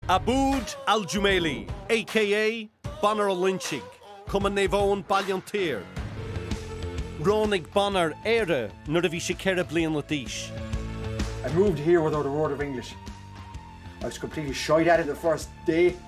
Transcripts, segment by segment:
Abood Al-Jumaili, aka Bonnar Ó Loingsigh, Cumann Naomh Eoin, Baile an tSaoir. Roghnaigh Bonnar Éire nuair a bhí sé ceithre bliana d'aois. I moved here without a word of English. I was completely shite at it the first day.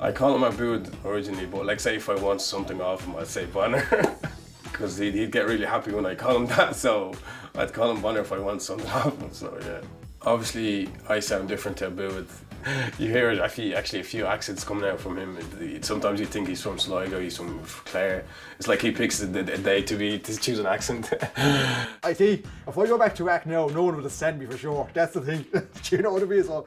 I call him Aboud originally but like say if I want something off him I'd say Bonner because he'd, he'd get really happy when I call him that so I'd call him Bonner if I want something off him so yeah obviously I sound different to Aboud you hear it actually actually a few accents coming out from him it, it, sometimes you think he's from Sligo he's from Clare it's like he picks a, a, a day to be to choose an accent I see if I go back to act now no one will send me for sure that's the thing do you know what I mean so